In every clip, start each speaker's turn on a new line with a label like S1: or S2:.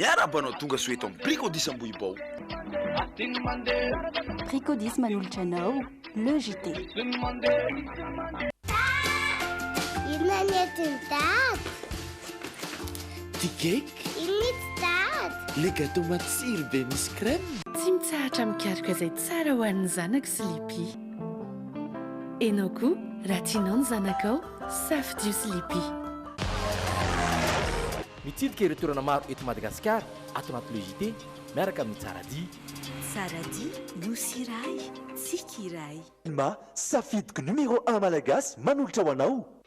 S1: Miarahaba anao tonga soa
S2: eto am Bricody's Ambohibao.
S3: Bricody's manolotra anao le JT. Inona ny entiny
S4: dada? Ty cake. Inona ity dada? Le gâteau matsiro be misy crème. Tsy mitsahatra
S5: mikaroka izay tsara ho an'ny zanako Sleepy. Enao koa raha tianao ny zanakao, safidio Sleepy.
S6: Mitsidika ireo toerana maro eto Madagasikara ato anaty Le JT miaraka amin'i Tsara Dia. Tsara Dia,
S5: Nosy iray, tsiky iray. Telma,
S7: safidiko numéro un malagasy manolotra ho anao.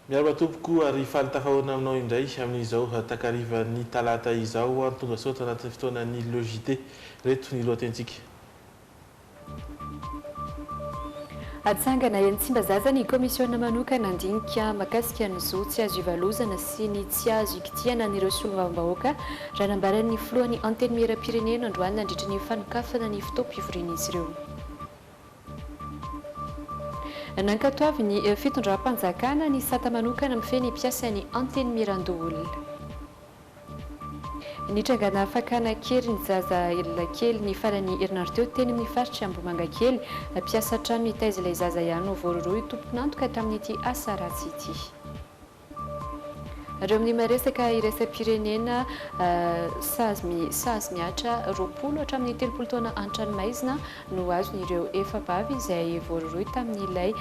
S8: Miarahaba tompoko ary faly tafahoana aminao indray amin'izao takarivan'ny talata izao. Tonga sao tanatin'ny fotoanan'ny LJT. Ireto ny lohatentsika.
S9: Hatsangana eny Tsimbazaza ny kaomisiona manokana handinika mahakasika ny zo tsy azo ivalozana sy ny tsy azo ikitihana an'ireo solombavambahoaka, raha nambaran'ny filohan'ny Antenimierampirenena androany nandritra ny fanokafana ny fotoam-pivorian'izy ireo. Nankatoavin'ny fitondram-panjakana ny sata manokana mifehy ny mpiasan'ny Antenimierandoholona. Nitrangana fakana kely ny zaza elona kely ny faran'ny herinandro teo teny amin'ny faritr'i Ambohimangakely. Mpiasa trano nitaiza ilay zaza ihany no voarohirohy tompon'antoka tamin'ity asa ratsy ity. Reo amin'ny maresaka iraisam-pirenena, Sazy mihatra roapolo hatramin'ny telopolo taona an-tranomaizina. no azon'ireo efa-bavy izay voarohirohy tamin'ilay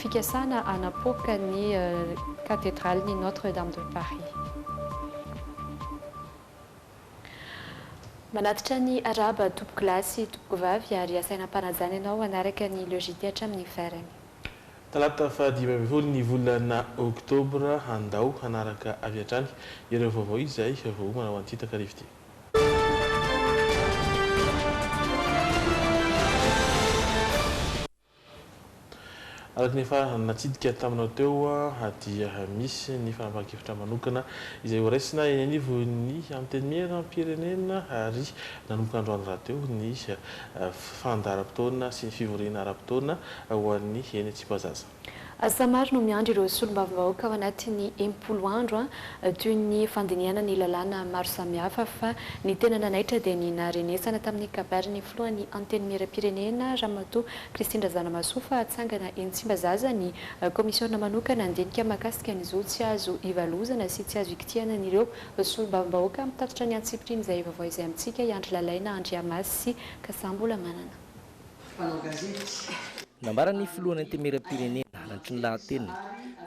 S9: fikasana hanapoaka ny Katedralin'i Notre Dame de Paris. Manatitra ny arahaba tompoko lahy sy tompoko vavy ary asaina ampanajana ianao hanaraka ny logite hatramin'ny farany. Talata
S8: faha dimy ambin'ny folo ny volana oktobra, andao hanaraka avy hatrany ireo vaovao izay voaomana ho antsika takariva ity. Araka ny efa natsidika taminao teo dia misy ny fanapahan-kevitra manokana izay ho raisina eny anivon'ny Antenimieram-pirenena ary nanomboka androany rahateo ny fandaharam-potoana sy ny fivoriana ara-potoana ho an'ny eny Tsipazaza. Asa maro no
S9: miandry ireo solombavambahoaka ao anatin'ny enimpolo andro toy ny fandinihana ny lalàna maro samihafa fa ny tena nanaitra dia ny naharenesana tamin'ny kabarin'ny filohan'ny Antenimierampirenena Ramatoa Christine Razanamahasoa fa hatsangana eny Tsimbazaza ny kaomisiona manokana handinika mahakasika ny zo tsy azo ivalozana sy tsy azo ikitihanan'ireo solombavambahoaka mitatitra ny antsipirian'izay vaovao izay amintsika i Andry Lalaina Andriamasy Kasambola Manana. mpanao
S6: gazety. Nambaran'ny filohan'ny Antenimierampirenena, Andry Nirahantena,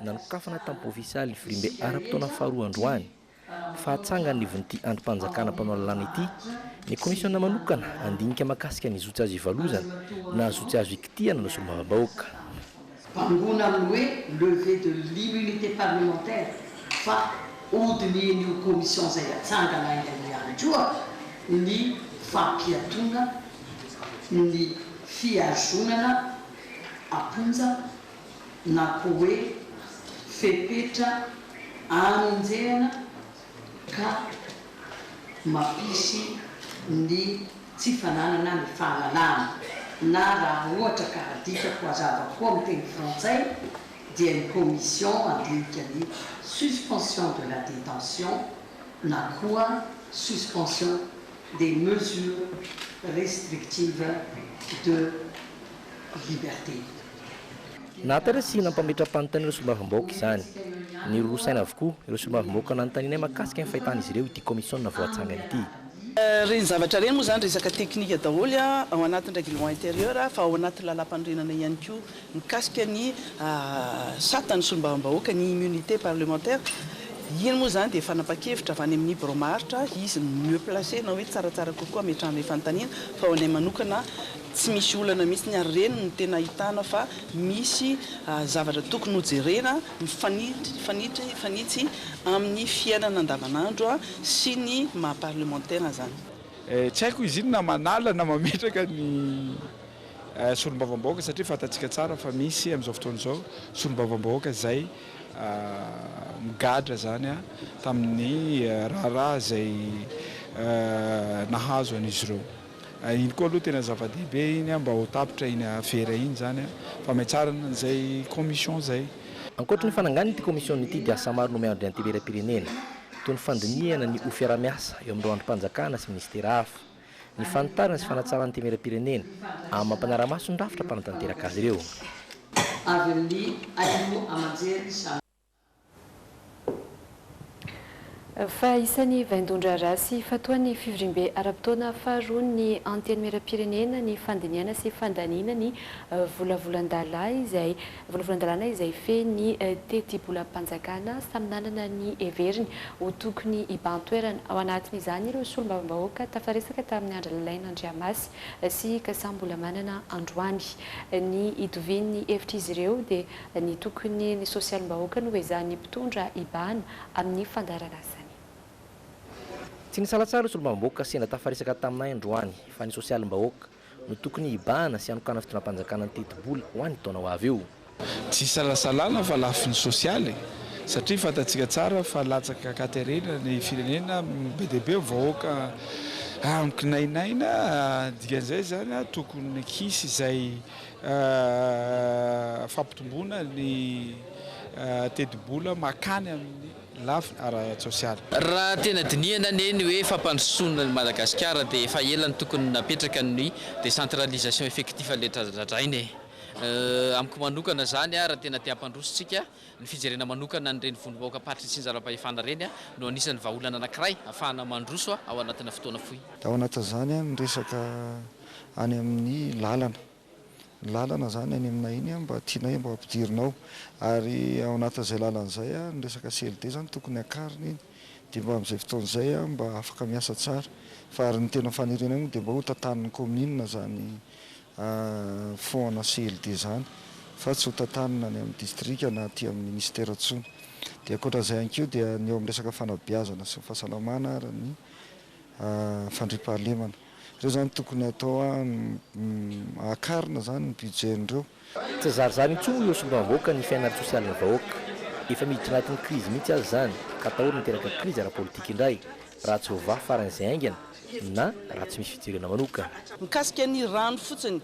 S6: nanokafana tamin'ny Provinsialy Ivorimbe ara-potoana faharoa androany, fahatsangan'ny ivon'ity andrim-panjakana mpanao lalàna ity, ny kaomisiona manokana handinika mahakasika ny zo tsy azo ivalozana na zo tsy azo ikitihana ny solombavambahoaka. Bangoina
S10: amin'ny hoe levée de l'immunité parlementaire fa hodinihin'io commission izay hatsangana aingana ihany koa ny fampiatoana ny fihazonana am-ponja na koa hoe fepetra anenjehana ka mampisy ny tsy fananana ny fahalalana, na raha ohatra ka adikako hazava koa amin'ny teny frantsay dia ny commission andinika ny suspension de la détention na koa suspension des mesures restrictives de liberté.
S6: Nahatarisin' ampametram-panontaniana ireo solombavambahoaka izany. Niroro saina avokoa ireo solombavambahoaka nanontanianay mahakasika ny fahitan' izy ireo ity kaomisiona voatsangana ity. Ireny zavatra
S11: ireny moa izany resaka teknika daholo ao anatin'ny règlement intérieur fa ao anatin'ny lalàmpanorenana ihany koa mikasika ny sata ny solombavambahoaka, ny immunité parlementaire. Iny moa izany dia fanapan-kevitra avy any amin'ny birao maharitra izy no mieux placé na hoe tsaratsara kokoa hametrahana io fanontaniana fa ho anay manokana Tsy misy olana mihitsy ary ireny no tena ahitana fa misy zavatra tokony ho jerena mifanitsy amin'ny fiainana andavanandro sy ny maha parlemantera izany. Tsy haiko izy
S12: inona manala na mametraka ny solombavambahoaka satria fantatsika tsara fa misy amin'izao fotoana izao solombavambahoaka izay migadra izany tamin'ny raharaha izay nahazo an'izy ireo. Iny koa aloha tena zava-dehibe iny mba ho tapitra iny afera iny izany fa mihatsarana an'izay commission izay. Ankoatry ny fananganana
S6: ity commission ity dia asa maro no miandry ny anteberam-pirenena toy ny fandinihana ny ho fiarahamiasa eo amin'ireo andrim-panjakana sy ministera hafa, ny fanitarana sy fanatsarana ny temeram-pirenena amin'ny mampanara-maso ny rafitra mpanatanteraka azy ireo.
S9: Fa isan'ny vaindohan-draharaha sy fatoan'ny fivoriambe ara-potoana faharoa ny Antenimierampirenena ny fandinihana sy fandaniana ny volavolan-dalàna izay volavolan-dalàna izay fehiny ny tetibolam-panjakana samy nanana ny heveriny ho tokony hibahan-toerana ao anatin'izany ireo solombavambahoaka tafaresaka tamin'i Andry Lalaina Andriamasy sy Kasam-bolamanana androany ny hitovian'ny hevitr'izy ireo dia Ny tokony ny sosialim-bahoaka no ezahan'ny mpitondra ibahana amin'ny fandaharan'asany.
S6: Tsy nisalatsara ireo solombavambahoaka sendra tafaresaka taminay androany fa ny sosialim-bahoaka no tokony hibahana sy hanokana fitondram-panjakana niteti-bola ho an'ny taona ho avy io. Tsy isalasalana
S12: fa lafiny sosialy e! Satria fantatsika tsara fa latsaka ankaterena ny firenena, be dia be ny vahoaka amiko nainaina, dikan'izay izany tokony hisy izay. fampitomboana ny tetibola makany amin'ny lafiny ara-tsosialy. Raha tena
S13: dinihana anie ny hoe fampandrosoana an'i Madagasikara dia efa ela no tokony napetraka ny décentralisation effectif le dradradraina e! Amiko manokana izany raha tena te hampandroso tsika, ny fijerena manokana an'ireny vondrom-bahoakam-paritry ny tsinjaram-pahefana ireny no anisan'ny vahaolana anankiray hafahana mandroso ao anatina fotoana fohy. Ao anatin'izany
S14: ny resaka any amin'ny lalana. Ny lalana izany any aminay iny mba tianay mba hampidirina ao. Ary ao anatin'izay lalana izay, ny resaka CLD izany tokony hakarina iny, dia mba amin'izay fotoana izay mba afaka miasa tsara. Fa ary ny tena fanirianay moa dia mba hotantanin'ny kaominina izany fonds ana CLD izany, fa tsy hotantanina any amin'ny distrika na aty amin'ny minisitera intsony. Dia ankoatra an'izay ihany koa dia ny eo amin'ny resaka fanabeazana sy ny fahasalamana ary ny fandriampahalemana. Ireo izany tokony atao akarina izany ny budget-n'ireo. Tsy zarizary
S6: intsony ireo solombavambahoaka ny fiainana ara-tsosialin'ny vahoaka. Efa miditra anatin'ny krizy mihitsy aza izany ka atahorana hiteraka krizy ara-politika indray raha tsy voavaha faran'izay haingana na raha tsy misy fijirena manokana. Mikasika ny
S11: rano fotsiny,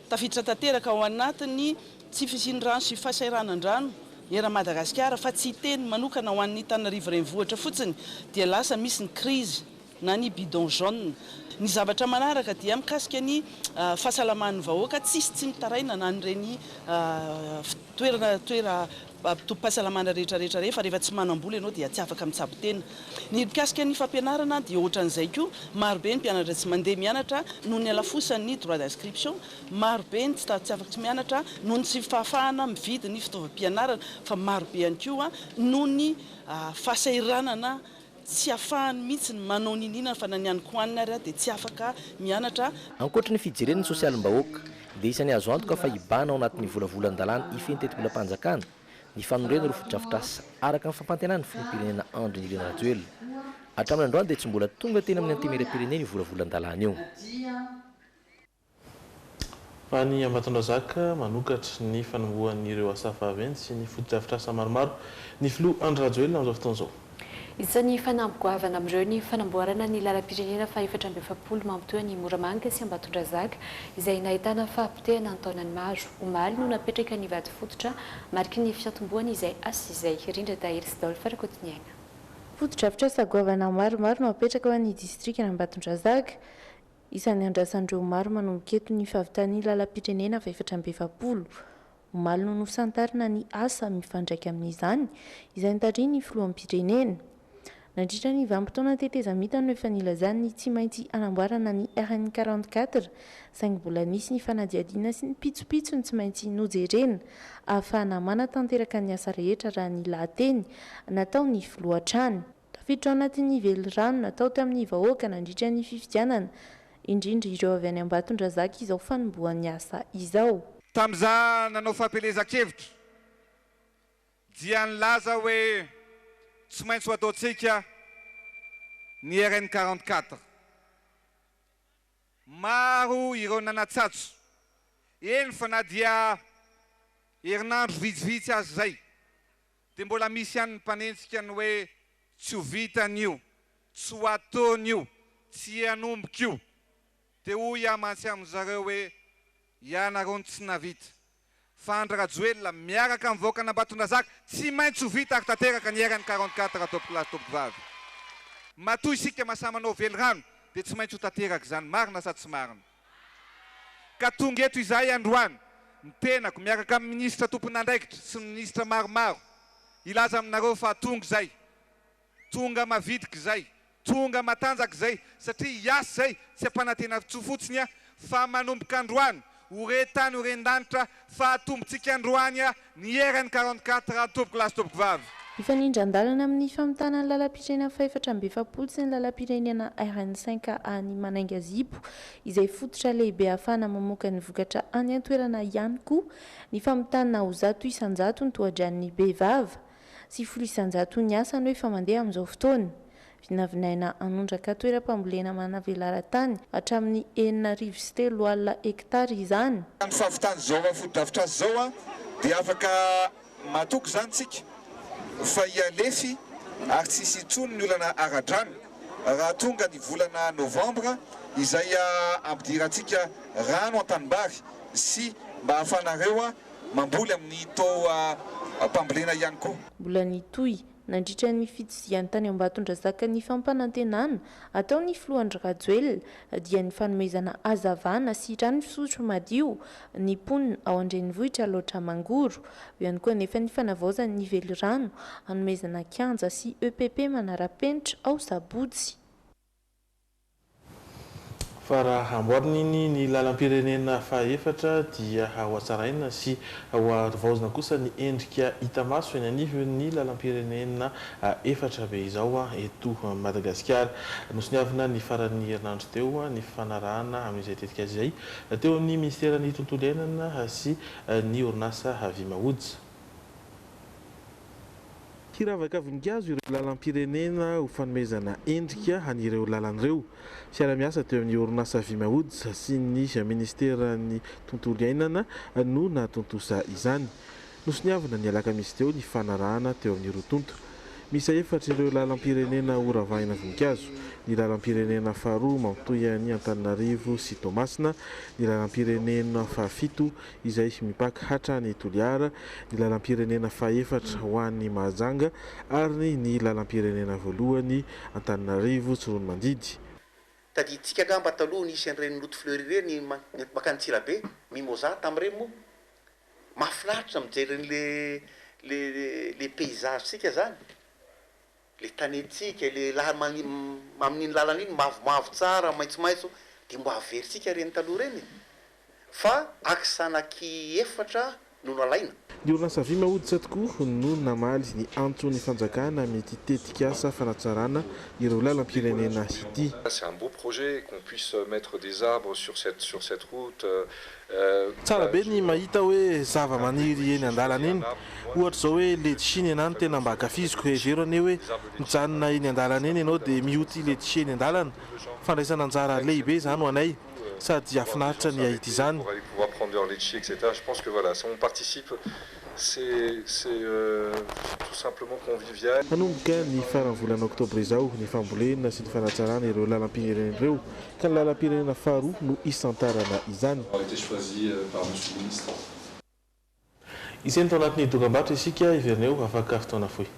S11: tafiditra tanteraka ao anatin'ny tsy fisian'ny rano sy fahasairanandrano eran'i Madagasikara fa tsy hiteny manokana ho an'ny Antananarivo Renivohitra fotsiny dia lasa misy ny krizy. na ny bidon jaune. Ny zavatra manaraka dia mikasika ny fahasalaman'ny vahoaka, tsisy tsy mitaraina na an'ireny toerana toeram-pahasalamana rehetra rehetra ireny fa rehefa tsy manam-bola ianao dia tsy afaka mitsabo tena. Ny mikasika ny fampianarana dia ohatran'izay koa, marobe ny mpianatra tsy mandeha mianatra noho ny halafosan'ny droit d'inscription, marobe ny tsy tsy afaka mianatra noho ny tsy fahafahana mividy ny fitaovam-pianarana fa marobe ihany koa noho ny fahasahiranana Tsy afahany mihitsy ny manao niniana fa na ny any Koanina ary aho dia tsy afaka mianatra. Ankoatry ny fijereny
S6: ny sosialim-bahoaka, dia isan'ny azo antoka fa hibahana ao anatin'ny volavolan-dalàna hifehy ny tetibolam-panjakana ny fanorenana ireo fotodrafitrasa araka ny fampantenan'ny filoham-pirenena Andry Nirina Rajoelina. Hatramin'ny androany dia tsy mbola tonga teny amin'ny Antenimierampirenena io volavolan-dalàna io.
S8: Any Ambatondrazaka, manokatra ny fanombohan'ireo asa vaventy sy ny fotodrafitrasa maromaro ny filoha Andry Rajoelina amin'izao fotoana izao. Isan'ny
S9: fanamby goavana amin'ireo ny fanamboarana ny lalam-pirenena fahefatra amby efapolo mampitohy an'i Moramanga sy Ambatondrazaka izay nahitana fahapotehana an-taonany maro. Omaly no napetraka ny vato fototra mariky ny fiantombohany izay asa izay. Rindran-dahiry sy Daoly Farakotoniaina. Fotodrafitrasa
S15: goavana maromaro no apetraka ho an'ny distrikan'Ambatondrazaka. Isan'ny andrasan'ireo maro manomboka eto ny fahavitan'ny lalam-pirenena fahefatra amby efapolo. Omaly no nosantarina ny asa mifandraika amin'izany, izay notarihin'ny filoham-pirenena. Nandritra ny vanim-potoana tetezamita no efa nilazany ny tsy maintsy hanamboarana ny RN quarante quatre, saingy mbola nisy ny fanadihadiana sy ny pitsopitsony tsy maintsy nojerena ahafahana manatanteraka ny asa rehetra raha ny lahateny nataon'ny filoha hatrany. Tafiditra ao anatin'ny velirano natao tamin'ny vahoaka nandritra ny fifidianana, indrindra ireo avy any Ambatondrazaka izao fanombohan'ny asa izao. Tamin'izaho
S16: nanao fampielezan-kevitra dia nilaza hoe tsy maintsy ho ataontsika ny RN quarante quatre. Maro ireo nanatsatso, eny fa na dia herinandro vitsivitsy aza izay. Dia mbola misy ihany ny mpanenjika ny hoe tsy ho vitany io, tsy ho ataony io, tsy hanomboka io. Dia hoy aho mantsy amin-dry zareo hoe, ianareo no tsy nahavita. Fa Andry-Rajoelina miaraka amin'ny vahoakan'Ambatondrazaka tsy maintsy ho vita ary tanteraka ny RN 44 tompoko lahy sy tompoko vavy. Matoa isika mahasahy manao velirano dia tsy maintsy ho tanteraka izany, marina sa tsy marina? Ka tonga eto izahay androany, ny tenako miaraka amin'ny minisitra tompon'andraikitra sy ny minisitra maromaro, hilaza aminareo fa tonga izay. Tonga mavitrika izay, tonga matanjaka izay, satria hiasa izay, tsy ampanantenan-tsoa fotsiny, fa manomboka androany, ho re tany ho ren-danitra, fa atombontsika androany Ny hieran'ny quarante quatre raha tompoko lahy sy tompoko vavy. Mifanindran-dalana
S15: amin'ny famitana ny lalam-pirenena fahefatra amby efapolo sy ny lalam-pirenena RN cinq A ny Manangazipo, izay fototra lehibe ahafahana mamoaka ny vokatra any an-toerana ihany koa ny famitana ho zato isan-jato ny tohadranon'ny bevava. Sivifolo isanjato ny asa no efa mandeha amin'izao fotoana. Vinavinaina hanondraka toeram-pambolena manavelaran-tany hatramin'ny enina arivo sy telo alina hektara izany. Amin'ny fahavitana izao
S16: fotodrafitrasa izao dia afaka matoky izany isika fa hihalefy ary tsy hisy intsony ny olana ara-drano raha tonga ny volana novambra izay hampidirantsika rano an-tanimbary sy mba hahafahanareo Mamboly amin'ny taoham-pambolena ihany koa. Mbola nitohy
S15: nandritra ny fitsizihany tany Ambatondrazaka ny fampanantenana ataon'ny filoha Andry Rajoelina dia ny fanomezana hazavana sy rano fisotro madio ny mponina ao an-drenivohitra Alaotra Mangoro. Eo ihany koa anefa ny fanavaozana ny velirano hanomezana kianja sy EPP manara-penitra ao Sabotsy.
S8: Fa raha hamboarina iny ny lalam-pirenena fahaefatra dia hohatsaraina sy hoharivaozina kosa ny endrika hita maso eny anivon'ny lalam-pirenena efatra be izao eto Madagasikara. Nosoniavina ny faran'ny herinandro teo ny fifanarahana amin'izay tetikasa izay teo amin'ny minisiteran'ny tontolo iainana sy ny orinasa Vimawood. Hiravaka voninkazo ireo lalam-pirenena ho fanomezana endrika an'ireo lalana ireo. Fiaraha-miasa teo amin'ny orinasa Vimaods sy ny minisiteran'ny Tontolo iainana no nahatontosa izany. Nosoniavina ny alakamisy teo ny fanarahana teo amin'ny roa tonta. Miisa efatra ireo lalam-pirenena horavahina voninkazo, ny lalam-pirenena faharoa mamitohy an'i Antananarivo sy Toamasina, ny lalam-pirenena fahafito izay mipaka hatrany Toliara, ny lalam-pirenena fahefatra ho any Mahajanga ary ny lalam-pirenena voalohany Antananarivo Tsiroanomandidy. Tadidintsika
S17: angamba taloha nisy an'ireny Note Fleury ireny mankany Antsirabe, Mimosa tamin'ireny moa. Mahafinaritra mijery an'ilay ilay paysage-tsika izany. Ilay tanintsika, ilay la mani amin'iny lalana iny mavomavo tsara, maitsomaitso, dia mba averintsika ireny taloha ireny e! Fa axe anaky efatra no nalaina. Ny orinasa vy
S8: mahoditsa tokoa no namaly ny antson'ny fanjakana amin'ity tetikasa fanatsarana ireo lalam-pirenena ity. C'est un beau projet
S18: qu'on puisse mettre des arbres sur cette sur cette route
S8: Tsara be ny mahita hoe zavamaniry eny andalana eny, ohatra izao hoe letchie ny anah no tena mba ankafiziko, hevero anie hoe mijanona eny andalana eny ianao dia mioty letchie eny andalana, fandraisana anjara lehibe izany ho anay, sady hafinaritra ny hahita izany.
S18: Hanomboka ny faran'ny
S8: volana oktobra izao ny fambolena sy ny fanatsarana ireo lalam-pirenena ireo ka ny lalam-pirenena faharoa no hisantarana izany. Iseny tao anatin'ny dokam-barotra isika, heverina eo afaka fotoana fohy.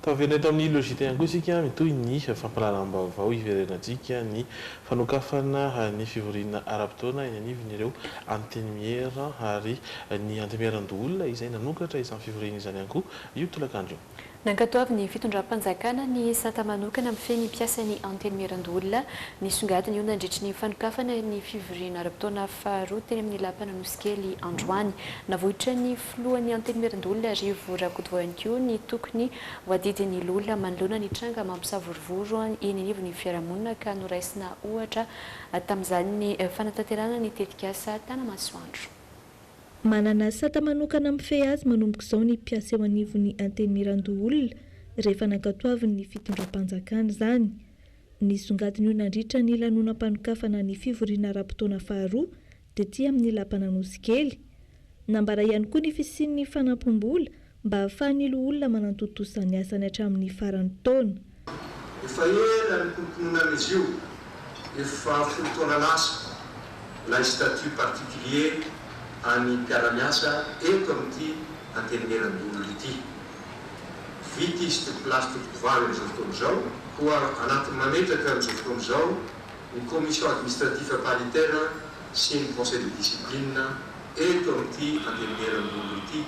S8: Taverina eto amin'ny Logite ihany koa isika mitohy ny fampahalalam-baovao hiverenantsika ny fanokafana ny fivoriana ara-potoana eny anivon'ireo Antenimiera ary ny Antemieran-doholona izay nanokatra izany fivoriana izany ihany koa io tolakandro io. Nankatoavin'ny
S9: fitondram-panjakana ny sata manokana mifehy ny mpiasan'ny Antenimieran-doholona nisongadina io nandritry ny fanokafana ny fivoriana ara-potoana faharoa teny amin'ny Lapan'Anosikely androany. Navoitra ny. Filohan'ny Antenimierandoholona Rivo Rakotovao ihany koa ny tokony ho adidin'ny loholona manoloana ny tranga mampisavorovoro eny anivon'ny fiarahamonina ka noraisina ohatra tamin'izany ny fanatanterahana ny tetikasa Tanamasoandro. Manana
S19: sata manokana mifehy azy manomboka izao ny mpiasa eo anivon'ny Antenimierandoholona rehefa nankatoavin'ny fitondram-panjakana izany. Nisongadina io nandritra ny lanonam-panokafana ny fivoriana ara-potoana faharoa Tety amin'ny lapan'Anosikely. Nambara ihany koa ny fisian'ny fanampim-bola mba hahafahan'ny loholona manantontosa ny asany hatramin'ny faran'ny taona. Efa
S20: ela nikoronkononana izy io, efa folo taona lasa, ilay statut particulier an'ny mpiara-miasa eto amin'ity Antenimierandoholona ity. Vita izy teo Place Tototovavy amin'izao fotoana izao, koa anatin'ny mametraka amin'izao fotoana izao, ny Commission Administrative Paritaire sy ny Conseil de Discipline eto amin'ity Antenimierandoholona ity.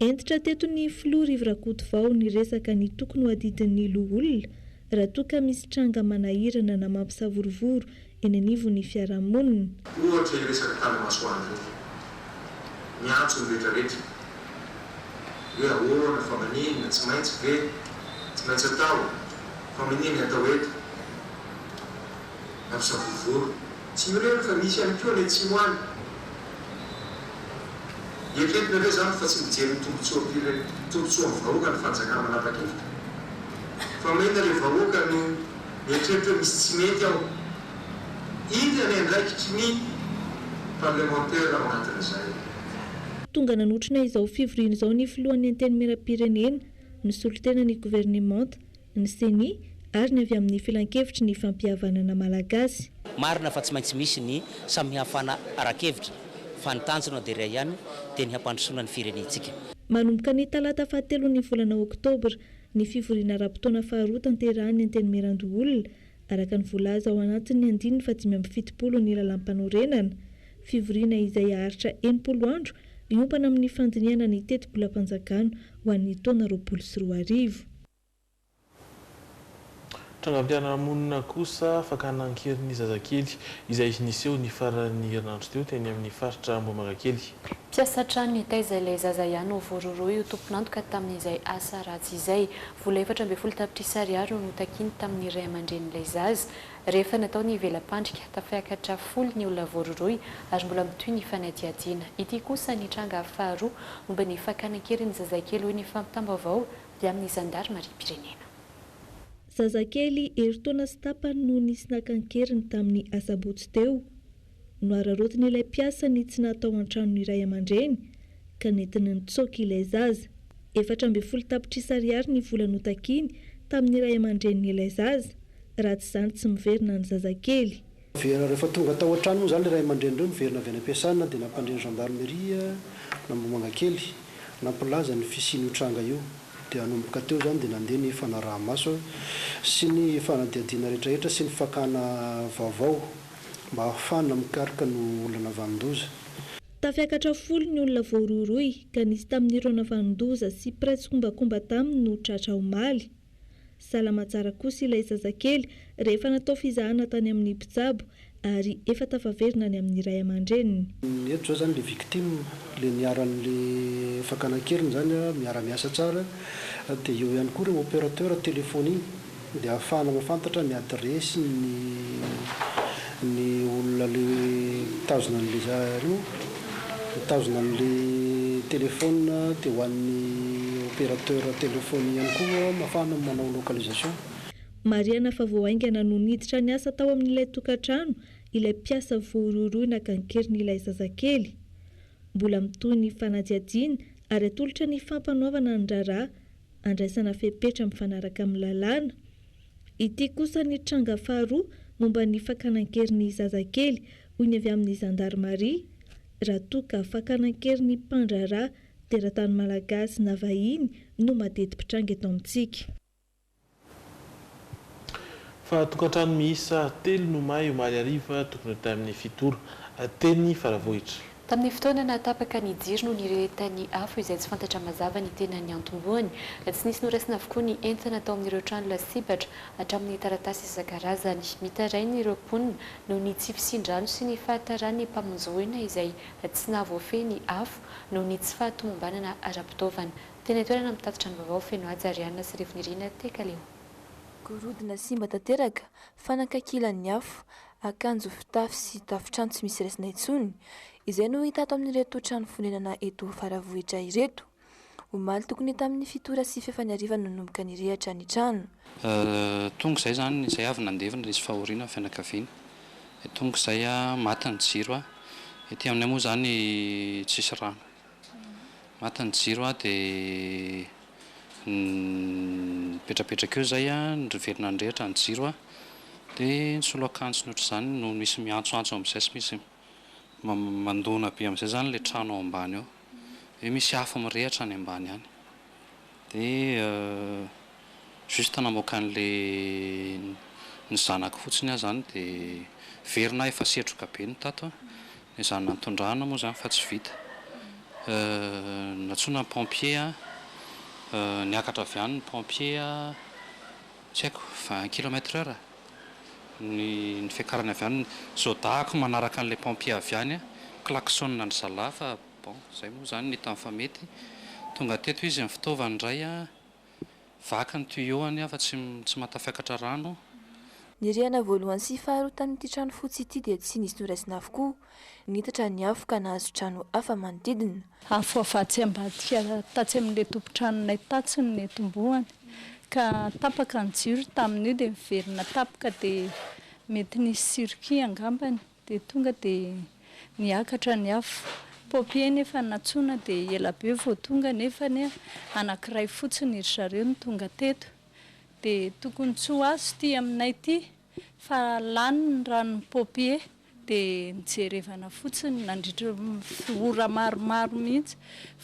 S20: Hentitra teto
S19: ny Filoha Rivo Rakotovao niresaka ny tokony ho adidin'ny loholona raha toa ka misy tranga manahirana na mampisavorovoro eny anivon'ny fiarahamonina. Ohatra io resaka
S20: tanamasoandro io. Miantso ny rehetrarehetra hoe ahoana fa maninona, tsy maintsy ve, tsy maintsy atao. Famania ny atao eto. Mpampisavorovoro. Tsy mirehina fa misy ihany koa any atsimo any. Eritreretina ve izany fa tsy mijery ny tombotsoam-pire, tombotsoan'ny vahoaka ny fanjakana manapa-kevitra? Fa maninona ilay vahoaka no mieritreritra hoe misy tsy mety ao? Inona ny andraikitry ny parlemantera ao anatin'izay? Tonga
S19: nanotrona izao fivoriana izao ny filohan'ny Antenimierampirenena, ny solontenan'ny governemanta, ny ceni ary ny avy amin'ny Filankevitry ny Fampihavanana Malagasy. Marina fa tsy maintsy
S21: misy ny samihafana ara-kevitra fa ny tanjona dia iray ihany dia ny hampandrosoana ny firenentsika. Manomboka ny
S19: talata fahatelon'ny volana oktobra ny fivoriana ara-potoana faharoa tanterahan'ny Antenimierandoholona araka ny voalaza ao anatin'ny andininy fahadimy amby fitopolo ny Lalàmpanorenana. Fivoriana izay haharitra enimpolo andro hiompana amin'ny fandinihana ny tetibolam-panjakana ho an'ny taona roapolo sy roa arivo.
S8: Trangam-piarahamonina kosa, fakana an-keriny zazakely, izay niseho ny faran'ny herinandro teo, teny amin'ny faritra Ambohimangakely. Mpiasa trano
S9: nitaiza ilay zaza ihany novororohy ho tompon'antoka tamin'izay asa ratsy izay. Vola efatra ambin'ny folo tapitrisa ariary no notakiny tamin'ny ray aman-drenin'ilay zaza. Rehefa natao ny vela-pandrika, tafaikatra folo ny olona voarohirohy ary mbola mitohy ny fanadihadiana. Ity kosa ny tranga faharoa momba ny fakana an-keriny zazakely, hoy ny fampitam-baovao dia amin'ny
S19: zandarimariam-pirenena. Zazakely herintaona sy tapany no nisy naka an-keriny tamin'ny asabotsy teo. Nohararaotin'ilay mpiasa ny tsy natao an-tranon'ny ray aman-dreny ka nentiny nitsoaka ilay zaza. Efatra ambin'ny folo tapitrisa ariary ny vola notakiny tamin'ny ray aman-drenin'ilay zaza, raha tsy izany tsy miverina ny zazakely. Very rehefa tonga
S22: tao an-trano moa izany ilay ray aman-dreny ireo, niverina avy any am-piasana dia nampandre ny zandarimeria-n'Ambohimangakely, nampilaza ny fisian'io tranga io. Dia hanomboka teo izany dia nandeha ny fanaraha-maso sy ny fanadihadiana rehetrarehetra sy ny fakana vaovao mba hahafahana mikaroka ny olona navanon-doza. Tafiakatra
S19: folo ny olona voarohirohy ka nisy tamin'ireo navanon-doza sy mpiray tsikombakomba taminy no tratra omaly. Salama tsara kosa ilay zazakely rehefa natao fizahana tany amin'ny mpitsabo ary efa tafaverina ny amin'ny ray aman-dreniny. Eto izao izany ilay
S22: victime, ilay niharan'ilay fakana an-keriny izany, miara-miasa tsara, dia eo ihany koa ireo opérateur téléphonies dia ahafahana mahafantatra ny adiresy ny ny olona ilay mitazona an'ilay za. Nitazona an'le telephone de ho an'ny operateur telephone ihany koa mafana ny manao localisation. Marihana
S19: fa vao haingana no niditra niasa tao amin'ilay tokantrano ilay mpiasa voarohirohy naka an-kerin'ilay zazakely. Mbola mitohy ny fanadihadiana ary atolotra ny fampanoavana ny raharaha handraisana fepetra mifanaraka amin'ny lalàna. Ity kosa ny tranga faharoa momba ny fakana an-kery ny zazakely, hoy ny avy amin'ny zandarimaria. Raha toa ka fakana an-kery ny mpandraharaha, teratany malagasy na vahiny no madeti-pitranga eto amintsika.
S8: Fa tokantrano miisa telo no may omaly hariva tokony ho tamin'ny fito ora, teny Faravohitra. Tamin'ny fotoana
S9: nahatapaka ny jiro no nirehetan'ny afo izay tsy fantatra mazava ny tena niantombohany. Tsy nisy noraisina avokoa ny entana tao amin'ireo trano lasibatra, hatramin'ny taratasy isan-karazany. Mitaraina ireo mponina noho ny tsy fisian-drano sy ny fahataran'ny mpamonjy voina izay tsy nahavoafehy ny afo noho ny tsy fahatomombanana ara-pitaovana. Teny an-toerana mitatitra ny vaovao feno haja Ariana sy Rivo Nirina Tekaleo. Gorodona
S15: simba tanteraka, fanankakilan'ny afo, akanjo, fitafy sy tafotrano tsy misy raisina intsony, izay no hita ato amin'ireto trano fonenana eto Faravohitra ireto. Omaly tokony tamin'ny fito ora sy fefa ny hariva no nanomboka nirehatra ny trano. Tonga
S23: izay izany, izay avy nandevina ilay izy fahoriana ny fianakaviana. Tonga izay maty ny jiro. Ety aminay moa izany tsisy rano. Maty ny jiro aho dia nipetrapetraka eo izay an, ry velona ny rehetra ny jiro an, dia ny solo akanjo ny ohatr'izany no misy miantsoantso amin'izay sy misy mandona be amin'izay izany ilay trano ao ambany ao, dia misy afo mirehitra any ambany any. Dia juste namoaka an'le ny zanako fotsiny aho zany dia very na efa setroka be ny tato an! Dia zany nantondrahana moa zany fa tsy vita. Nantsoina ny pompier an! Niakatra avy any ny pompier an! Tsy haiko, vingt kilomètre heure ny ny fiakarany avy any. Zao dahako manaraka an'le pompier avy any an! Klaxonina ry zalahy fa Bon, izay moa izany ny hita fa mety. Tonga teto izy ny fitaovany indray, vaky ny tuyau-ny aho fa tsy tsy mahatafiakatra rano. Ny rihana
S15: voalohany sy faharoa tamin'ity trano fotsy ity dia tsy nisy noraisina avokoa. Nitatra ny afo ka nahazo trano hafa manodidina. Afo avy atsy
S24: ambadika tatsy amin'ilay tompon-tranonay tatsy no niantombohany ka tapaka ny jiro tamin'io dia niverina tapaka dia mety nisy circuit angambany. Dia tonga dia niakatra ny afo. Pompier nefa nantsoina dia ela be vao tonga nefa anie anankiray fotsiny ry zareo no tonga teto. Dia tokony tsy ho azo ity aminay ity fa lany ny ranon'ny pompier. Dia nijerevana fotsiny nandritra ny ora maromaro mihitsy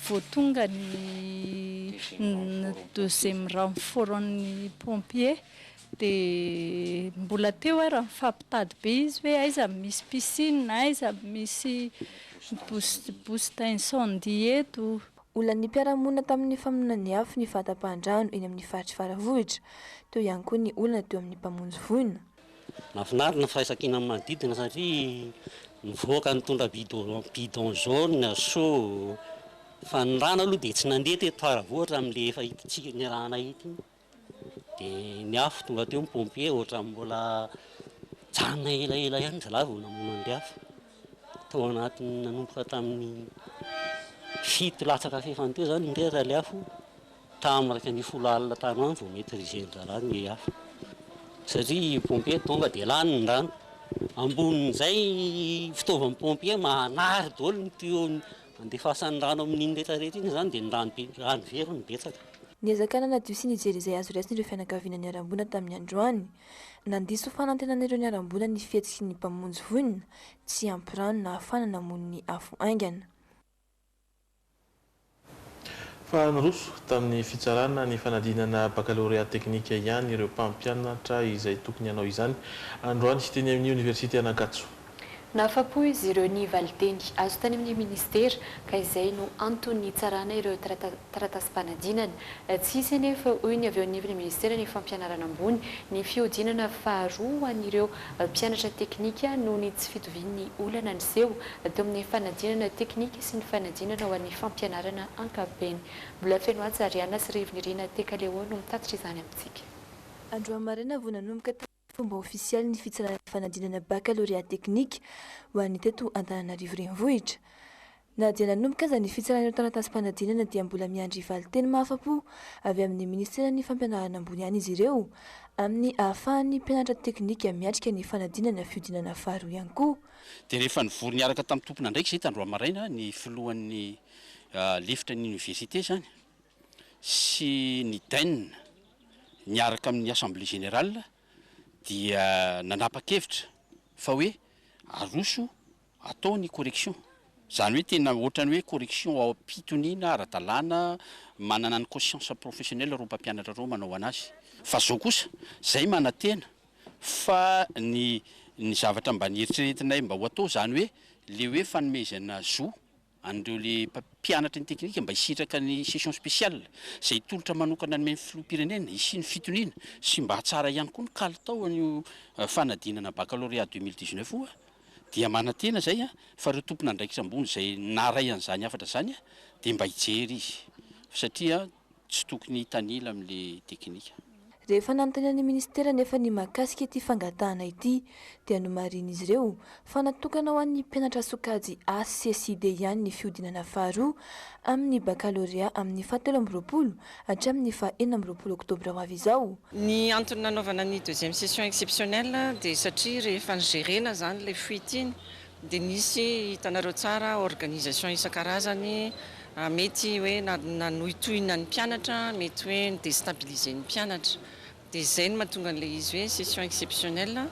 S24: vao tonga ny deuxième renfort-n'ny pompier. Dia mbola teo ary nifampitady be izy hoe aiza no misy piscine, aiza no misy boost d'incendie eto. Olan'ny mpiara-monina
S15: tamin'ny famonoan'ny afo ny fahatapahan-drano eny amin'ny faritr'i Faravohitra. Teo ihany koa ny olana teo amin'ny mpamonjy voina. Mahafinaritra
S21: ny firaisankina amin'ny manodidina satria mivoaka mitondra bidon jaune, seau, fa ny rano aloha dia tsy nandeha teto Faravohitra amin'ilay efa ity tsika niarahanay ity. Dia ny afo tonga teo ny pompier ohatran'ny mbola mijanona elaela ihany zalahy vao namono an'ilay afo. Tao anatin'ny nanomboka tamin'ny fito latsaka fahefany teo izany indray raha ilay afo, tamin'ny iraika ambin'ny folo alina tany ho any vao maitrizen'ny rahalahy ny afo satria ny pompier tonga dia lany ny rano. Ambonin'izay ny fitaovan'ny pompier manary daholo ny tuyau-n'ny. Andefasany rano amin'iny retraretra iny izany dia ny rano very no betsaka. Niezaka nanadio
S15: sy nijery izay azo raisina ireo fianakaviana niharam-boina tamin'ny androany. Nandiso fanantenana ireo niharam-boina ny fihetsiky ny Mpamonjy vonona tsy ampy rano nahafahana namono ny afo haingana.
S8: Fa niroso tamin'ny fitsarana ny fanadinana bakalorea teknika ihany ireo mpampianatra izay tokony hanao izany androany teny amin'ny oniversite an'Ankatso. Nahafapo
S9: izy ireo ny valinteny azo tany amin'ny minisitera ka izay no antony hitsarana ireo taratasim-panadinana. Tsy hisy anefa, hoy ny avy eo anivon'ny minisiteran'ny Fampianarana ambony, ny fihodinana faharoa ho an'ireo mpianatra teknika noho ny tsy fitovian'ny olana niseho teo amin'ny fanadinana teknika sy ny fanadinana ho an'ny fampianarana ankapobeny. Mbola Fenohatsy Ariana sy Rivo Nirina Tekaleon no mitatitra izany amintsika. Androany maraina
S15: vao nanomboka tamin'ny. Fomba ofisialy ny fitsarana ny fanadinana bakalorea teknika ho an'ny teto Antananarivo Renivohitra. Na
S3: dia nanomboka aza ny fitsarana ireo taratasim-panadinana dia mbola miandry valin-teny mahafa-po avy amin'ny Ministeran'ny Fampianarana Ambony ihany izy ireo amin'ny ahafahan'ny mpianatra teknika miatrika ny fanadinana fihodinana faharoa ihany koa. Dia rehefa nivory
S1: niaraka tamin'ny tompon'andraikitra izay tandroy maraina ny filohan'ny lefitra ny oniversite izany sy ny Dainina. niaraka amin'ny Assemblée Générale dia nanapa-kevitra fa hoe aroso atao ny correction. Izany hoe tena ohatran'ny hoe correction am-pitoniana ara-dalàna, manana ny conscience professionnelle ireo mpampianatra ireo manao an'azy. Fa izao kosa, izay manantena fa ny ny zavatra mba nieritreretinay mba ho atao izany hoe le hoe fanomezana zo an'ireo le mpianatra ny teknika mba hisitraka ny session spéciale izay tolotra manokana nomen'ny filoham-pirenena hisian'ny fitoniana sy mba hatsara ihany koa ny kalitao an'io fanadinana baccalauréat 2019 io dia manantena izay fa ireo tompon'andraikitra ambony izay naray an'izany hafatra izany dia mba hijery izy satria tsy tokony hitanila amle teknika. Rehefa nanontaniana
S3: ny ministera anefa ny mahakasika ity fangatahana ity dia nomarihin'izy ireo fa natokana ho an'ny mpianatra sokajy A sy C sy D ihany ny fihodinana faharoa amin'ny bakalorea amin'ny faha telo amby roapolo hatramin'ny faha enina amby roapolo oktobra ho avy izao. Ny antony nanaovana
S2: ny deuxième session exceptionnelle dia satria rehefa nijerena izany ilay fuite iny Dia nisy, hitanareo tsara, organisation isan-karazany, mety hoe nanohitohina ny mpianatra, mety hoe ni-destabiliser ny mpianatra. Dia izay no mahatonga an'ilay izy hoe session exceptionnelle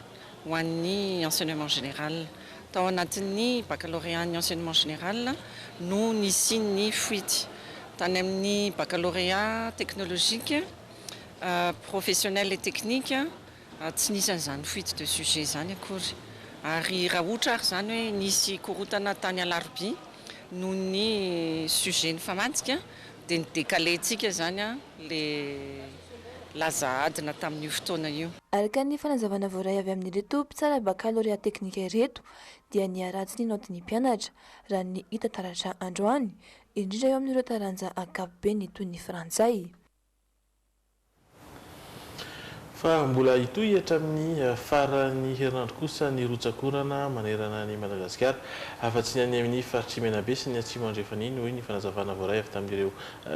S2: ho an'ny enseignement général. Tao anatin'ny baccalauréat-n'ny enseignement général no nisian'ny fuite. Tany amin'ny baccalauréat technologique, professionnel et technique, Tsy nisy an'izany fuite de sujet izany akory. Ary raha ohatra ary izany hoe nisy korontana tany alarobia noho ny sujet nifamantsika dia ni-decaler-ntsika izany ilay laza adina tamin'io fotoana io. Araka ny fanazavana
S3: voaray avy amin'ireto mpitsara bakalorea teknika ireto dia niha-raha tsy nino ady ny mpianatra, raha ny hita taratra androany, indrindra eo amin'ireo taranja ankapobeny toy ny frantsay.
S8: Fa mbola hitohy hatramin'ny faran'ny herinandro kosa ny rotsak'orana manerana an'i Madagasikara, afa-tsy ny any amin'ny faritr'i Menabe sy ny Atsimo Andrefan'iny, hoy ny fanazavana voaray avy tamin'ireo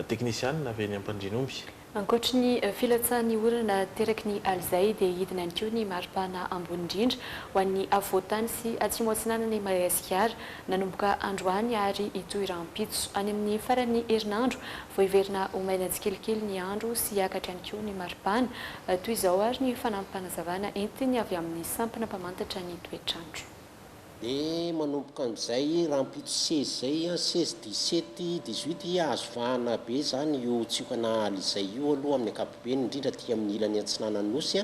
S8: teknisianina avy eny Ampandrinomby. Ankoatry ny
S9: filatsahan'ny orana ateraky ny alizay dia hidina ihany koa ny mari-pana ambony indrindra ho an'ny afovoan-tany sy atsimo-atsinanan'i Madagasikara Nanomboka androany ary hitohy rahampitso. Any amin'ny faran'ny herinandro, vao hiverina ho maina tsikelikely ny andro sy hiakatra ihany koa ny maripana. Toy izao ary ny fanampim-panazavana entiny avy amin'ny sampana mpamantatra ny toetr'andro. Dia
S4: manomboka amin'izay rahampitso seize izay, seize, dix sept, dix huit, azo vahana be izany io tsiokana Ally izay io aloha amin'ny ankapobeny, indrindra aty amin'ny ilany antsinanan'ny Nosy.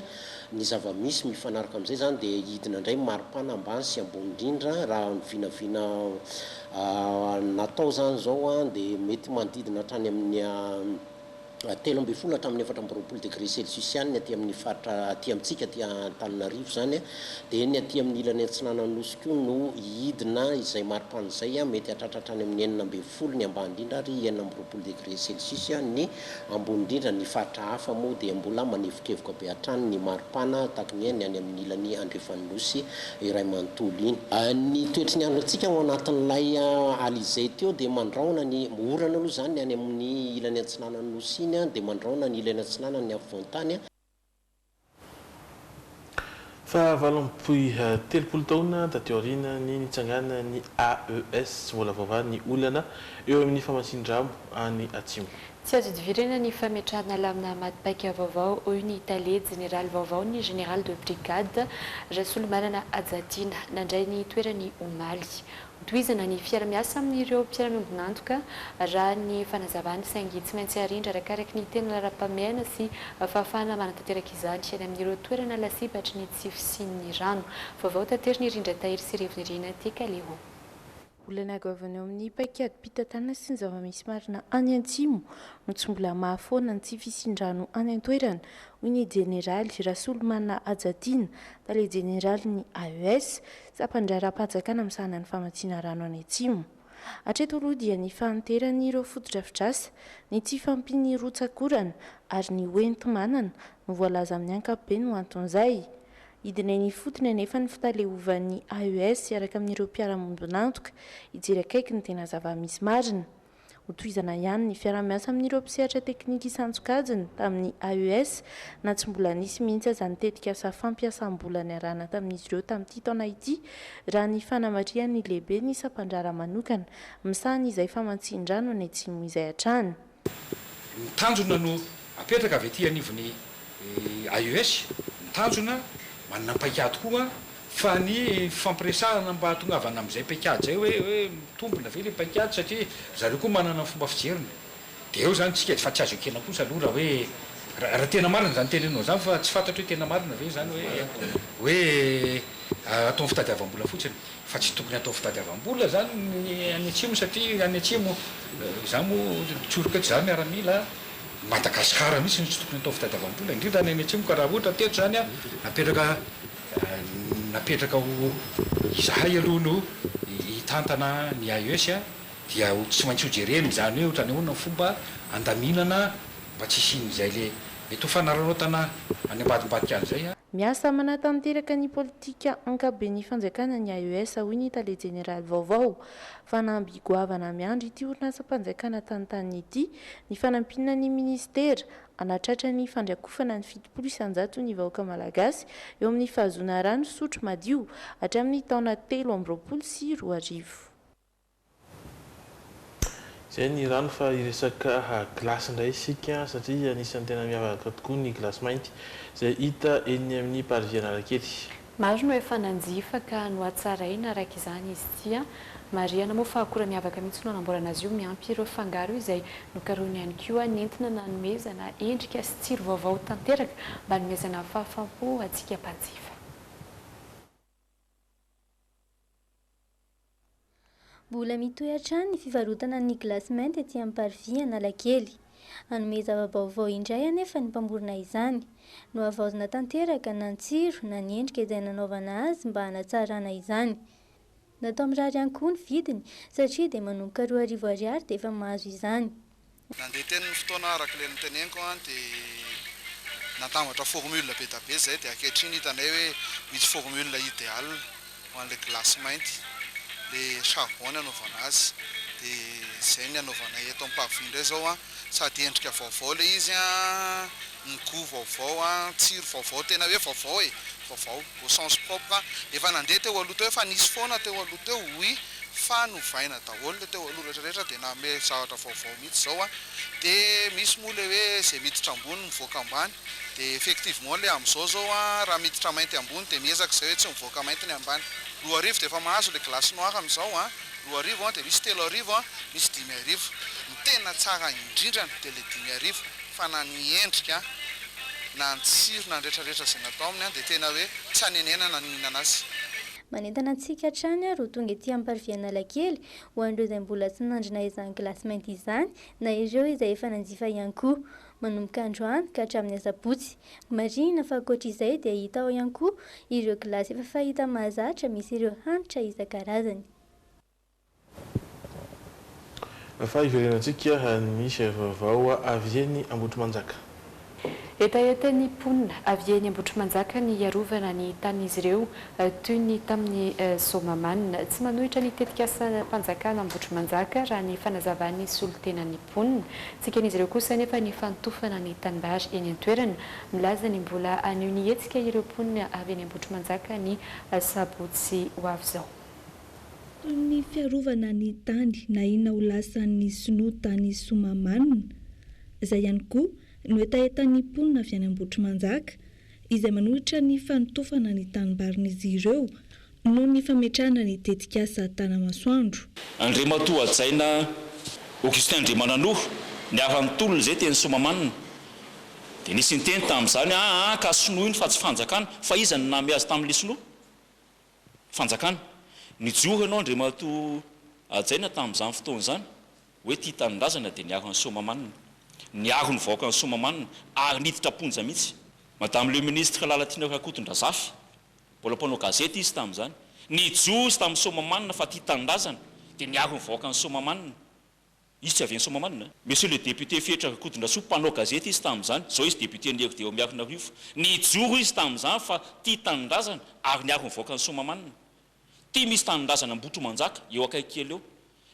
S4: Ny zava-misy mifanaraka amin'izay izany dia hidina indray ny maripana ambany sy ambony indrindra raha ny vinavina natao izany izao dia mety manodidina hatrany amin'ny telo ambin'ny folo hatramin'ny efatra amby roapolo degré celsius ihany ny aty amin'ny faritra aty amintsika aty Antananarivo izany dia ny aty amin'ny ilany atsinanan'ny Nosy koa no hidina izay maripana izay mety hahatratra hatrany amin'ny enina ambin'ny folo ny ambany indrindra ary enina amby roapolo degré celsius ny Ambony indrindra ny faritra hafa moa dia mbola manevokevoka be hatrany ny maripana tahaka ny hoe ny any amin'ny ilany andrefan'ny Nosy iray manontolo iny. Ny toetry ny andro antsika ao anatin'ilay alizay teo dia mandrahona ny orana aloha izany ny any amin'ny ilany atsinanan'ny Nosy iny dia mandrahona ny ilany atsinanan'ny afovoantany.
S8: Fahavalo amby telopolo taona taty aoriana ny nitsanganan'ny AES, tsy mbola voavaha ny olana eo amin'ny famatsian-drano any Atsimo. Tsy azo idivirana
S9: ny fametrahana lamina maty paika vaovao, hoy ny tale jeneraly vaovaon'ny Général de brigade, Rasolomanana Hajatiana, nandray ny toerany omaly. Tohizana ny fiara-miasa amin'ireo mpiara-miombon'antoka raha ny fanazavany saingy tsy maintsy arindra arakaraky ny tena laharam-pahamehana sy fahafahana manatanteraka izany any amin'ireo toerana lasibatry ny tsy fisian'ny rano. Vaovao taterin'i Rindra Tahiry sy Revinirina Tekaleho. Olana
S15: goavana eo amin'ny paikadim-pitantanana sy ny zava-misy marina any Antsimo no tsy mbola mahafoana ny tsy fisian-drano any an-toerana, hoy ny Jeneraly Rasolomanana Hajatiana, Tale Jeneralin'ny AES. Tsapan-dra ara-pahajakana misahana ny famatsiana rano any Atsimo. Hatreto aloha dia ny fahanteran'ireo fotodrafitrasa, ny tsy fahampian'ny rotsak'orana ary ny ho enti-manana no voalaza amin'ny ankapobeny ho anton'izay. Hidina eny ifotony anefa ny fitaleovan'ny AES hiaraka amin'ireo mpiara-monibon'antoka hijery akaiky ny tena zava-misy marina. Ho tohizana ihany ny fiarahamiasa amin'ireo mpisehatra teknika isan-tsokajiny tamin'ny AES, na tsy mbola nisy mihitsy aza ny tetikasa fampiasam-bola niarahana tamin'izy ireo tamin'ity taona ity, raha ny fanamarihan'ny lehiben'ny sampandraharaha manokana misahana izay famatsian-drano any Atsimo izay hatrany. Ny
S5: tanjona no Apetraka avy aty anivon'ny AES ny tanjona, manana paikady koa fa ny fifampiresahana mba hahatongavana amin'izay paikady izay hoe hoe mitombina ve ilay paikady satria ry zareo koa manana ny fomba fijeriny. Dia eo izany tsika fa tsy azo ekena kosa aloha raha hoe raha tena marina izany teneninao izany fa tsy fantatro hoe tena marina ve izany hoe hoe ataony fitadiavam-bola fotsiny fa tsy tokony hatao fitadiavam-bola izany ny any atsimo satria any atsimo izaho moa tsoriko eto izaho miaramila Madagascar mihitsy no tsy tokony atao fitadiavam-bola indrindra any any atsimo ka raha ohatra teto zany a napetraka napetraka ho izahay aloha no hitantana ny AES a dia ho tsy maintsy ho jerena izany hoe otrany ahoana ny fomba andaminana mba tsy hisian'izay le mety ho fanararaotana any ambadimbadika any zay a. Miasa manatanteraka
S15: ny politika ankabobeny fanjakana ny AES hoy ny tale jeneraly vaovao Fanamby goavana miandry ity orinasam-panjakana tantaniny ity ny fanampiana ny minisitera hanatratra ny fandrakofana ny fitopolo isan-jato ny vahoaka malagasy eo amin'ny fahazoana rano fisotro madio hatramin'ny taona telo amby roapolo sy roa arivo.
S8: Izay ny rano fa hiresaka gilasy indray isika satria anisan'ny tena miavaka tokoa ny gilasy mainty izay hita eny amin'ny Parvis Analakely. Maro no efa
S9: nanjifa ka nohatsaraina araka izany izy ity an! Marihana moa fa akora miavaka mihitsy no anamboarana azy io, miampy ireo fangaro izay nokarohina ihany koa nentina nanomezana endrika sy tsiro vaovao tanteraka mba hanomezana fahafam-po antsika mpanjifa.
S7: Mbola mitohy hatrany ny fivarotana ny glasy mainty ety amin'ny Parvis Analakely. Hanome zava-baovao indray anefa ny mpamorona izany. Nohavaozina tanteraka na ny tsiro na ny endrika izay nanaovana azy mba hanatsarana izany. Natao mirary ihany koa ny vidiny satria dia manomboka roa arivo ariary dia efa mahazo izany. Nandeha teny ny
S10: fotoana araka ilay noteneniko an dia natambatra formule be da be izay dia ankehitriny hitanay hoe misy formule ideal ho an'ilay gilasy mainty, ilay charbon ny anaovana azy dia izay ny anaovanay eto amin'ny pavie indray izao an, sady endrika vaovao ilay izy an. ny goût vaovao a, ny tsiro vaovao tena hoe vaovao e, vaovao au sens propre a, efa nandeha teo aloha teo, efa nisy foana teo aloha teo oui, fa novaina daholo le teo aloha rehetra rehetra de nanome zavatra vaovao mihitsy zao a, de misy moa le hoe ze miditra ambony mivoaka ambany, de effectivement le amzao zao a raha miditra mainty ambony de miezaka izay hoe tsy mivoaka mainty ny ambany, roa arivo de efa mahazo le glace noir ny zao a, roa arivo a, de misy telo arivo a, misy dimy arivo, ny tena tsara indrindrany de le dimy arivo. fa na ny endrika na ny tsiro na ny retraretra izay natao aminy dia tena hoe tsy anenenana ny mihinana azy. Manentana antsika
S7: hatrany ary ho tonga ety Amparivianalakely ho an'ireo izay mbola tsy nandrina izany glasy mainty izany na ireo izay efa nanjifa ihany koa manomboka androany ka hatramin'ny asabotsy. Marihina fa ankoatr'izay dia hita ao ihany koa ireo glasy efa fahita mahazatra misy ireo hanitra isan-karazany.
S8: Fa hiverenantsika ny sary vaovao avy eny Ambohitrimanjaka.
S9: Hetahetan'ny mponina avy eny Ambohitrimanjaka ny hiarovana ny tanin'izy ireo toy ny tamin'ny zoma manina. Tsy manohitra ny tetikasam-panjakana Ambohitrimanjaka raha ny fanazavan'ny solontenan'ny mponina. Tsy eken'izy ireo kosa anefa ny fanotofana ny tanimbary eny an-toerana. Milaza ny mbola hanio ny hetsika ireo mponina avy eny Ambohitrimanjaka ny sabotsy ho avy izao. Toy
S19: ny fiarovana ny tany nahiana ho lasan'ny sinoa tany Somamanina, izay ihany koa no hetahetan'ny mponina avy any Ambohitrimanjaka, izay manohitra ny fanotofana ny tanimbarin'izy ireo noho ny fametrahana ny tetikasa Tanamasoandro. Andriamatoa
S12: Hajaina Augustin Andriamananoa, ny havan'ny tolona izay teny Soamamanina, dia nisy niteny tamin'izany, Aa ka sinoa iny fa tsy fanjakana, fa iza no nameazy tamin'ilay sinoa? fanjakana. Nijoro ianao Andriamatoa hajaina tamin'izany fotoana izany hoe tia tanindrazana dia niaro an'i Soamahamanina, niaro ny vahoakan'i Soamahamanina ary niditra am-ponja mihitsy. Madame le ministre Lalatiana Rakotondrazafy, mbola mpanao gazety izy tamin'izany, nijoro izy tamin'i Soamahamanina fa tia tanindrazana dia niaro ny vahoakan'i Soamahamanina. Izy tsy avy any Soamahamanina an. Monsieur le député Fehitra Rakotondrasoa, mpanao gazety izy tamin'izany, zao izy député lery dia eo Miarinarivo. Nijoro izy tamin'izany fa tia tanindrazana ary niaro ny vahoakan'i Soamahamanina. Ity misy tanindrazana Ambohitromanjaka, eo akaiky kely eo.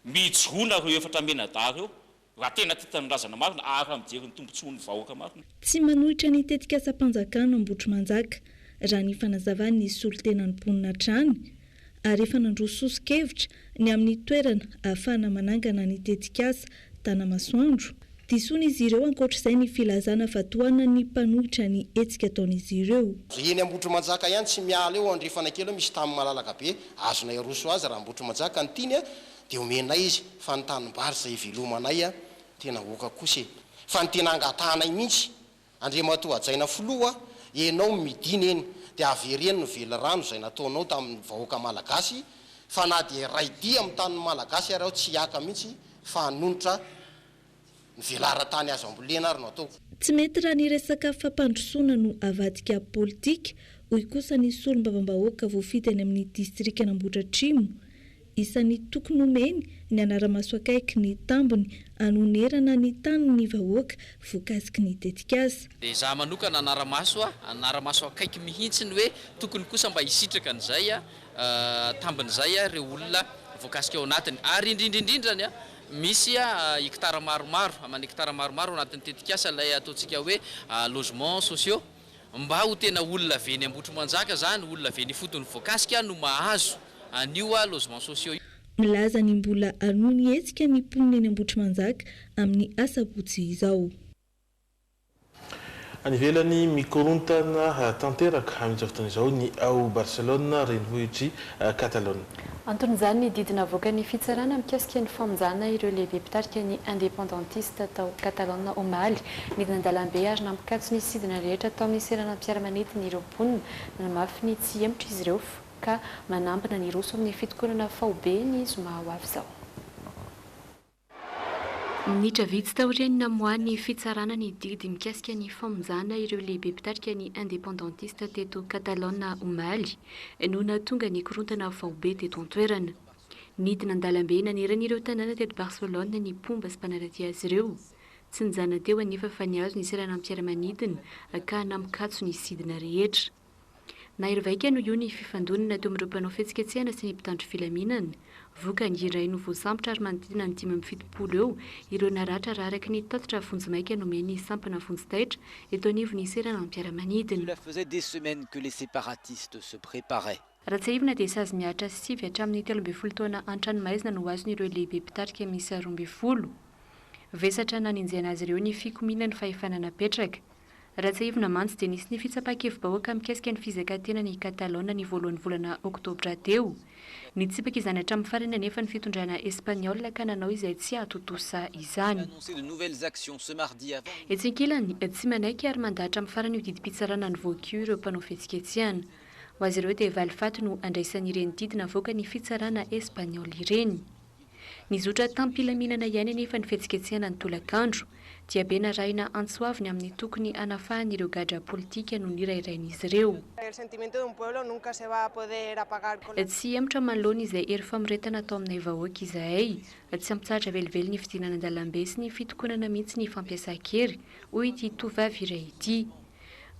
S12: Mijoroa nareo efatra mianadahy reo raha tena tia tanindrazana marina ary raha mijery ny tombotsoan'ny vahoaka marina. Tsy manohitra ny
S19: tetikasam-panjakana Ambohitromanjaka, raha ny fanazavan'ny solontenan'ny mponina hatrany, ary efa nandroso soso-kevitra ny amin'ny toerana ahafahana manangana ny tetikasa Tanamasoandro. Disoina izy ireo ankoatra izay ny filazana fa tohanan'ny mpanohitra ny hetsika ataon'izy ireo. Dia eny Ambohitrimanjaka
S4: ihany tsy miala eo Andrefana kely eo misy tany malalaka be azonay aroso azy raha Ambohitrimanjaka no tiany dia omenay izy fa ny tanimbary izay ivelomanay tena oka kosa e! Fa ny tena angatahanay mihitsy Andriamatoa hajaina filoha a, enao midina eny dia avereno ny velirano izay nataonao tamin'ny vahoaka malagasy fa na dia iray dia amin'ny tanin'ny malagasy ary aho tsy hiaka mihitsy fa hanonitra ny velaran-tany azo ambolena ary no ataoko. Tsy mety raha ny
S19: resaka fampandrosoana no avadika politika, hoy kosa ny solombavambahoaka voafidy any amin'ny distrikan'Ambohidratrimo, Isan'ny toky nomeny ny hanara-maso akaiky ny tambiny hanonerana ny tanin'ny vahoaka voakasiky ny tetikasa. Dia izaho manokana
S6: hanara-maso a, hanara-maso akaiky mihitsy ny hoe tokony kosa mba hisitraka an'izay tambiny izay ireo olona voakasika ao anatiny. Ary indrindra indrindra ny misy hektara maromaro, aman-hektara maromaro ao anatin'ny tetikasa ilay ataontsika hoe logements sociaux. Mba ho tena olona avy eny Ambohitrimanjaka zany, olona avy eny ifotony voakasika no mahazo an'io logements sociaux io. Milaza ny mbola
S19: hanohy ny hetsika ny mponina eny Ambohitrimanjaka amin'ny asabotsy izao.
S8: Any ivelany, mikorontana tanteraka amin'izao fotoana izao ny ao Barcelone, renivohitr'i Catalogne. Anton'izany ny
S9: didy navoakan'ny fitsarana mikasika ny famonjàna ireo lehibe mpitarika ny independentista tao Catalogne omaly. Nidina an-dalambe ary nampikatso ny sidina rehetra tao amin'ny seranam-piaramanidina ireo mponina. Nanamafy ny tsy hihemotra izy ireo ka manambina ny hiroso amin'ny fitokonana faobe ny zoma ho avy izao. Minitra vitsy taorian'ny namoahan'ny fitsarana ny didy mikasika ny famonjana ireo lehibe mpitarika ny independentista teto Catalogne omaly no nahatonga ny korontana faobe teto an-toerana. Nidina an-dalambe nanerana ireo tanàna teto Barcelone ny mpomba sy mpanaradia azy ireo. Tsy nijanona teo anefa fa nihazo ny seranam-piaramanidina ka nampikatso ny sidina rehetra. Nahery vaika noho io ny fifandonana teo amin'ireo mpanao fihetsiketsehana sy ny mpitandro filaminana. Vokany, iray no voasambotra ary manodidina ny dimy amby fitopolo eo ireo naratra raha araka ny tatitra vonjimaika nomen'ny sampana vonjy taitra eto anivon'ny seranam-piaramanidina.
S11: Raha tsiahivina dia
S9: sazy mihatra sy sivy hatramin'ny telo ambin'ny folo taona an-tranomaizina no azon'ireo lehibe mpitarika miisa roa ambin'ny folo. Vesatra nanenjehana azy ireo ny fikomiana ny fahefana napetraka. Raha tsiahivina mantsy dia nisy ny fitsapan-kevi-bahoaka mikasika ny fizakan-tenan' i Catalogne ny voalohan'ny volana oktobra teo. Nitsipaka izany hatramin'ny farany anefa ny fitondrana Espaniola ka nanao izay tsy hahatontosa izany. Etsy ankilany, tsy manaiky ary mandahatra amin'ny farany io didim-pitsarana nivoaka io ireo mpanao fihetsiketsehana. Ho azy ireo dia valifaty no andraisan'ireny didy navoaka ny fitsarana Espaniola ireny. Nizotra tam-pilaminana ihany anefa ny fihetsiketsehana ny tolakandro. Diabe narahina antso avo ny amin'ny tokony hanafahan'ireo gadra politika nonirairain'izy ireo. Tsy hihemotra manoloana izay hery famoretana atao aminay vahoaka izahay. Tsy hampitsahatra velively ny fidinana an-dalambe sy ny fitokonana mihitsy ny fampiasan-kery, hoy ity tovovavy iray ity.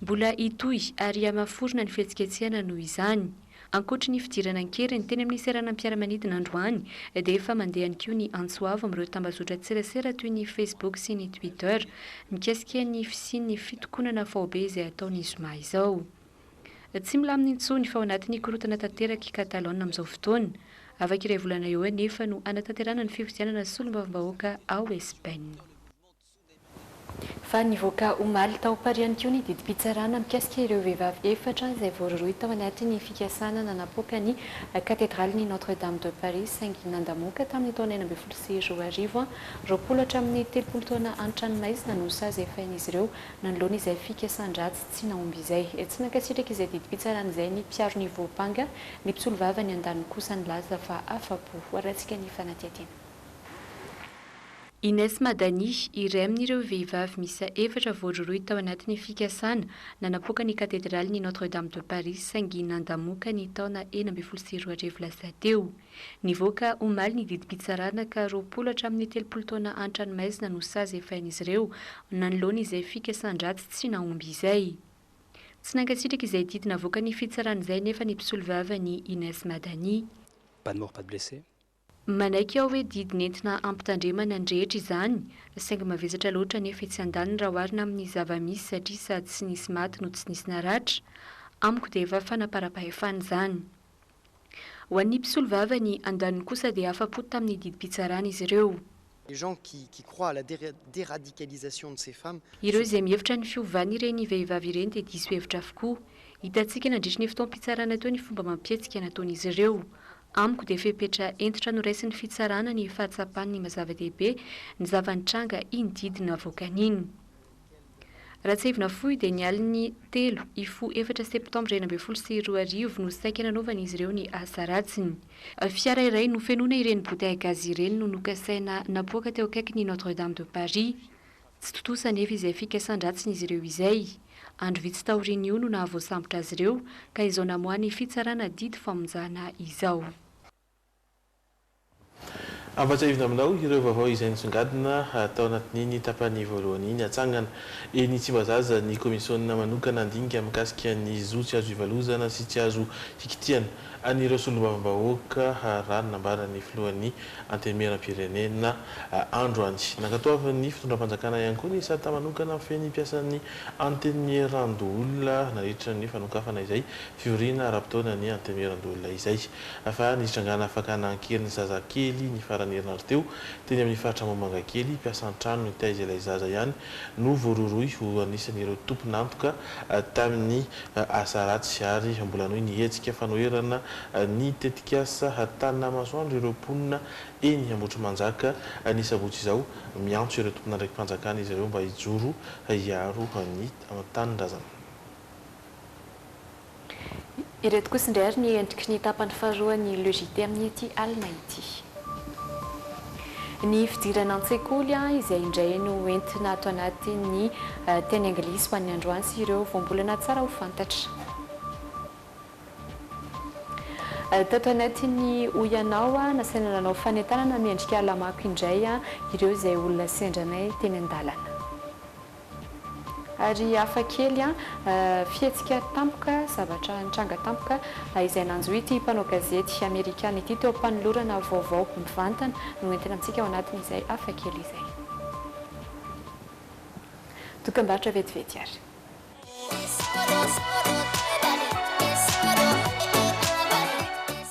S9: Mbola hitohy ary hamaforona ny fihetsiketsehana noho izany. Ankoatry ny fidirana an-keriny teny amin'ny seranam-piaramanidina androany dia efa mandeha ihany koa ny antso avo amin'ireo tambazotran-tserasera toy ny Facebook sy ny Twitter mikasika ny fisian'ny fitokonana faobe izay hatao ny zoma izao. Tsy milamina intsony fa ao anatin'ny korontana tanteraka i Catalogne amin'izao fotoana. Afaka iray volana eo anefa no hanatanterahana ny fifidianana solombavambahoaka ao Espaina. fa nivoaka omaly tao Paris ihany koa ny didim-pitsarana mikasika ireo vehivavy efatra izay voarohirohy tao anatin'ny fikasana nanapoaka ny Katedralin'i Notre Dame de Paris saingy nandamoaka tamin'ny taona enina ambin'ny folo sy roa arivo roapolo hatramin'ny telopolo taona an-tranomaizina no sazy efain'izy ireo nanoloana izay fikasan-dratsy tsy nahomby izay. Tsy nankasitraka izay didim-pitsarana izay ny mpiaro ny voampanga, ny mpisolovava ny andaniny kosa nilaza fa afa-po raisika ny fanadihadiana. Inès
S13: Madani, iray amin'ireo vehivavy miisa efatra voarohirohy tao anatin'ny fikasana nanapoaka ny katedralin'i Notre Dame de Paris saingy nandamoka ny taona enina ambin'ny folo sy roa arivo lasa teo. Nivoaka omaly ny didim-pitsarana ka roapolo hatramin'ny telopolo taona an-tranomaizina no sazy efain'izy ireo nanoloana izay fikasan-dratsy tsy nahomby izay. Tsy nankasitraka izay didy navoakan'ny fitsarana izay nefa ny mpisolovava an'i Inès Madani. Pas de mort, pas de
S14: blessé. Manaiky aho
S13: hoe didy nentina hampitandremana ny rehetra izany, saingy mavesatra loatra nefa etsy andaniny raha oharina amin'ny zava-misy satria sady tsy nisy maty no tsy nisy naratra. Amiko dia efa fanaparam-pahefana izany. Ho an'ny mpisolovava ny andaniny kosa dia afa-po tamin'ny didim-pitsarana izy ireo. Les gens qui
S16: qui croient à la deradicalisation de ces femmes Ireo izay mihevitra ny
S13: fiovan'ireny vehivavy ireny dia diso hevitra avokoa. Hitantsika nandritry ny fotoam-pitsarana teo ny fomba amam-pihetsika nataon'izy ireo. Amiko dia fepetra hentitra noraisin'ny fitsarana ny fahatsapany ny maha-zava-dehibe ny zava-nitranga iny didy navoakan'iny. Ratsehivina fohy dia ny alin'ny telo hifoha efatra septambra enina ambin'ny folo sy roa arivo no saika nanaovan'izy ireo ny asa ratsiny. Fiara iray nofenoina ireny bouteille gaz ireny no nokasaina napoaka teo akaikin'ny Notre Dame de Paris. Tsy tontosa anefa izay fikasan-dratsin'izy ireo izay. Andro vitsy taorian'io no nahavoasambotra azy ireo ka izao namoahan'ny fitsarana didy famonjana izao.
S8: Ampahatsiahivina aminao ireo vaovao izay nisongadina tao anatin'iny tapany voalohany iny. Hatsangana eny Tsimbazaza ny kaomisiona manokana handinika mikasika ny zo tsy azo ivalozana sy tsy azo hikitihana an'ireo solombavambahoaka raha ny nambaran'ny filohan'ny Antenimierampirenena androany. Nankatoavin'ny fitondram-panjakana ihany koa ny sata manokana feno ny mpiasan'ny Antenimierandoholona nandritra ny fanokafana izay fivoriana ara-potoana ny Antenimierandoholona izay. Fa nisy tranga nahafaka nanan-kery ny zazakely ny faran'ny herinandro teo, teny amin'ny faritra Ambohimangakely. Mpiasa an-trano nitaiza ilay zaza ihany no voarohirohy ho anisan'ireo tompon'antoka tamin'ny asa ratsy ary mbola hanohy ny hetsika fanoherana ny tetikasa Tana Masoandro ireo mponina eny Ambohitrimanjaka ny sabotsy izao. Miantso ireo tompon'andraiki-panjakana izy ireo mba hijoro hiaro ny tanindrazana.
S9: Ireto kosa indray ary ny endriky ny tapany faharoan'ny Le JT amin'ity alina ity. Ny fidirana an-tsekoly izay indray no entina ato anatin'ny teny anglisy ho an'ny androany sy ireo voambolana tsara ho fantatra. Tato anatin'ny Hoy Ianao, nasaina nanao fanentanana miendrika ala-mako indray ireo izay olona sendranay teny an-dalana. Ary hafa kely an, fihetsika tampoka, zavatra nitranga tampoka izay nanjo ity mpanao gazety Amerikana ity teo am-panolorana vaovao mivantana no ho entina amintsika ao anatin'izay hafa kely izay. Dokam-barotra vetivety ary.